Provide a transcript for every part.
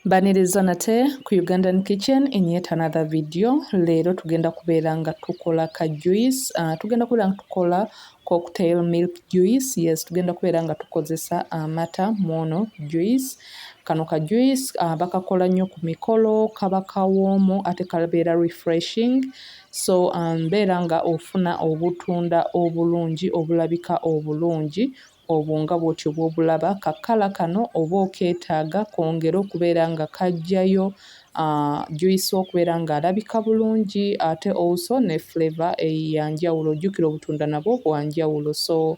Mbaniriza nate ku Ugandan kitchen in yet another video. Leero tugenda kubeera nga tukola ka juice. Uh, tugenda kubeera nga tukola cocktail milk juice. Yes, tugenda kubeera nga tukozesa amata uh, mwono juice. Kano ka juice uh, bakakola nnyo ku mikolo, kaba kawoomu ate kabeera refreshing. So um, mbeera um, nga ofuna obutunda obulungi obulabika obulungi Obwo nga bw'otyo bw'obulaba, ka kkala kano oba okeetaaga kongere okubeera nga kaggyayo juyisi okubeera ng'alabika bulungi ate also ne flavour ya njawulo. Jjukira obutunda nabwo bwa njawulo so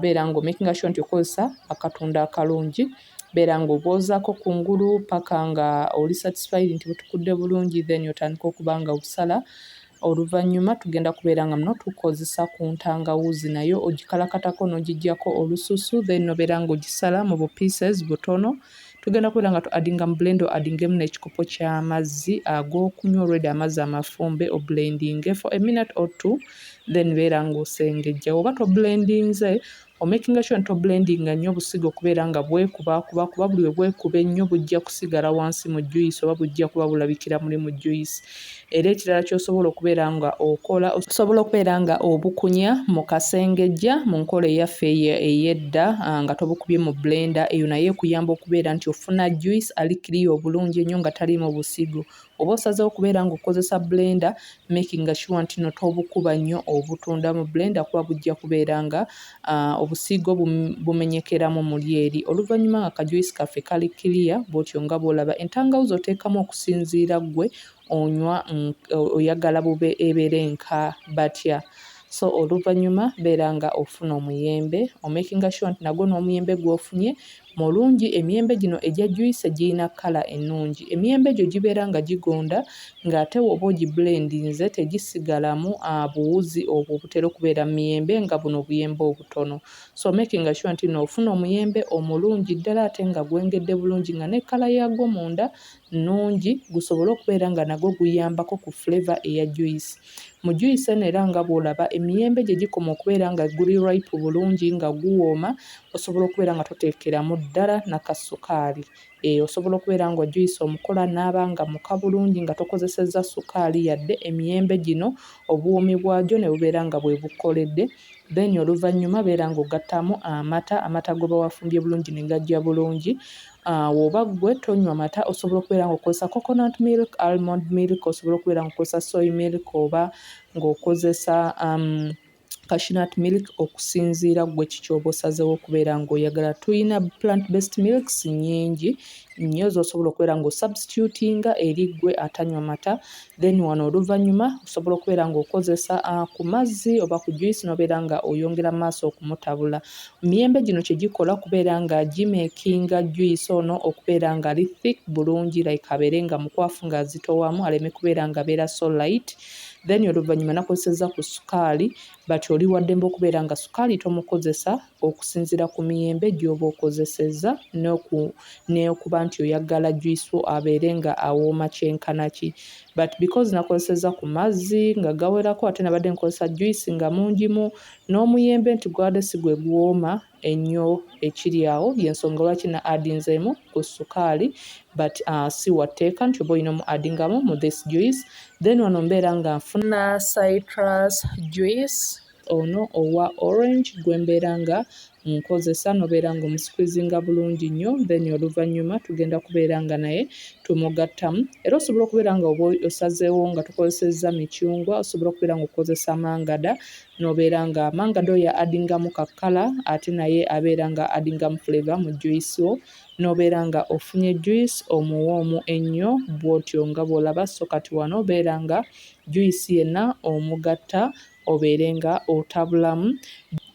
beera ng'omakinga sure nti okozesa akatunda akalungi. Beera ng'obwozaako ku ngulu paka nga oli satisfied nti butukudde bulungi then otandike okuba nga obusala. Oluvannyuma tugenda kubeera nga muno tukozesa ku ntangawuuzi nayo ogikalakatako n'ogiggyako olususu then n'obeera nga ogisala mu bu pieces butono. Tugenda kubeera nga tu addinga mu blender o addingemu n'ekikopo ky'amazzi ag'okunywa already amazzi amafumbe o blendinge for a minute or two then beera nga osengejja. Woba to blendinze Omakinga sure nti oblendinga nnyo obusigo okubeera nga bwekubaakuba kuba buli we bwekuba ennyo bujja kusigala wansi mu juyisi oba bujja kuba bulabikira muli mu juyisi. Era ekirala ky'osobola okubeera nga okola, osobola okubeera nga obukunya mu kasengejja mu nkola eyaffe eyo ey'edda nga tobukubye mu blender. Eyo nayo ekuyamba okubeera nti ofuna juyisi ali kiriya obulungi ennyo nga taliimu busigo. Oba osazeewo okubeera nga okozesa blender making sure ntino tobukuba nnyo obutunda mu blender kuba bujja kubeera nga uh, obusiigo bumenyekeramu muli eri oluvannyuma nga kajuisi kaffe kali clear bwotyo nga bwolaba entangawuzi oteekamu okusinziira gwe onywa mm, oyagala bube ebeere nka batya so oluvannyuma beera nga ofuna omuyembe omakinga sure nti nagwo n'omuyembe gwofunye Mulungi, emiyembe gino egya juice giyina colour enungi. Emiyembe gyo gibeera nga gigonda nga ate woba ogi blendinze tegisigalamu buwuzi obwo obutera okubeera mumiyembe nga buno obuyembe obutono. So making sure nti no ofuna omuyembe omulungi ddala ate nga gwengedde bulungi nga ne colour yagwo munda nnungi gusobole okubeera nga nagwo guyambako ku flavour eya juyisi. Mu juyisi eno era nga bw'olaba emiyembe gye gikoma okubeera nga guli ripe bulungi nga guwooma osobola okubeera nga toteekeramu ddala na ka sukaali. Eeh osobola okubeera nga juyisi omukola n'aba nga muka bulungi nga tokozesezza sukaali yadde emiyembe gino obuwoomi bwagyo ne bubeera nga bwe bukoledde then oluvannyuma beera ng'ogattaamu amata, amata g'oba wafumbye bulungi ne gajja bulungi Awo oba ggwe tonywa mata osobola okubeera ng'okozesa coconut milk, almond milk, osobola okubeera ng'okozesa soy milk oba ng'okozesa um, cashew nut milk okusinziira ggwe ki ky'oba osazeewo okubeera ng'oyagala. Tulina plant based milks nnyingi nnyo z'osobola okubeera ng'osubstitutinga eri ggwe atanywa mata then wano oluvannyuma osobola okubeera ng'okozesa uh, ku mazzi oba ku juice n'obeera nga oyongera maaso okumutabula. Miyembe gino kye gikola kubeera nga gimekinga juice ono okubeera nga ali thick bulungi like abeere nga mukwafu nga azitowamu aleme kubeera nga abeera so light then oluvannyuma nakozesezza ku sukaali but oli waddembe okubeera nga sukaali tomukozesa okusinziira ku miyembe gy'oba okozesezza n'okuba nti oyaggala juice wo abeere nga awooma kyenkana ki but because nakozesezza ku mazzi nga gawerako ate nabadde nkozesa juice nga mungimu N'omuyembe nti gwade si gwe guwooma enyo ekiri awo yensonga lwaki na adinzeemu ku sukaali but si wa tteeka nti oba olina omu adingamu mu this juice then wano mbeera nga nfuna citrus juice ono owa orange gwe mbeera nga nkozesa nobeera nga omusqueezinga bulungi nnyo then oluvannyuma tugenda kubeera nga naye tumugattamu era osobola okubeera nga oba osazeewo nga tukozesezza micungwa osobola okubeera nga okukozesa mangada nobeera nga mangada oyo adingamu kakkala ate naye abeera nga adingamu fleva mu juice wo nobeera nga ofunye juice omuwoomu ennyo bwotyo nga bwolaba so kati wano obeera nga juice yenna omugatta obeere nga otabulamu.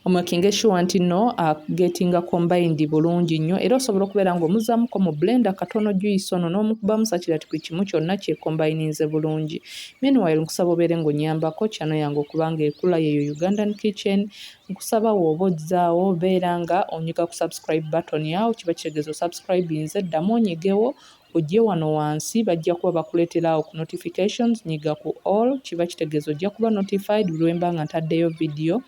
Omakinge sure nti no agetinga combined bulungi nnyo era osobola okubeera nga omuzamuko mu blender katono juice ono n'omukubamu sakirati ku kimu kyonna kye combininze bulungi. Meanwhile nkusaba obeere nga onyambako channel yange okuba nga ekula yeyo Ugandan kitchen nkusaba woba ojzaawo beera nga onyiga ku subscribe button awo kiba kitegeeza osubscribinze ddamu onyigewo Ojje wano wansi bajja kuba bakuletera awo ku notifications nyiga ku all kiba kitegeza ojja kuba notified buli wemba nga ntaddeyo video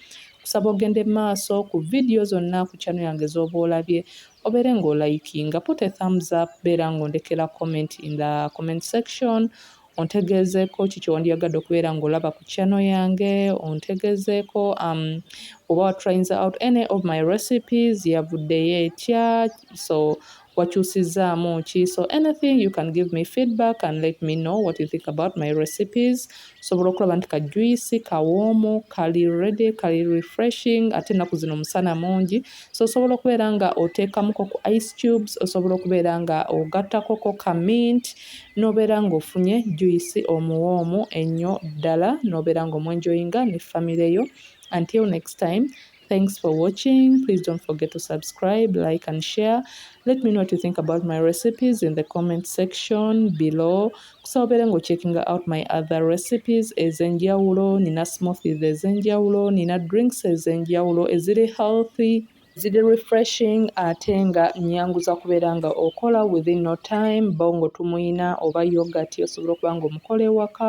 kusaba ogende maaso ku video zonna ku channel yange zoba olabye obere nga olayikinga put a thumbs up beera nga ondekera comment in the comment section ontegezeeko ki kyewandyagadde okubeera ngaolaba ku channel yange ontegezeeko um, oba watrayinza out any of my recipes yavuddeyo etya so wakyusizzaamu ki so anything you can give me feedback and let me know what you think about my recipes sobola okulaba nti ka juice kawoomu kali ready kali refreshing ate ennaku zino omusana mungi so osobola okubeera nga oteekamuko ku ice cubes osobola okubeera nga ogattakoko ka mint n'obeera ng'ofunye juice omuwoomu ennyo ddala n'obeera ng'omwenjoyinga ne famire yo until next time Thanks for watching. Please don't forget to subscribe, like and share. Let me know what you think about my recipes in the comment section below. Kusaobere ngo checking out my other recipes ezenjawulo, nina smoothies ezenjawulo, nina drinks ezenjawulo, eziri healthy. ziri refreshing ate nga nyanguza kubeera nga okola within no time bongo tumuyina oba yogati osobola okuba nga omukola ewaka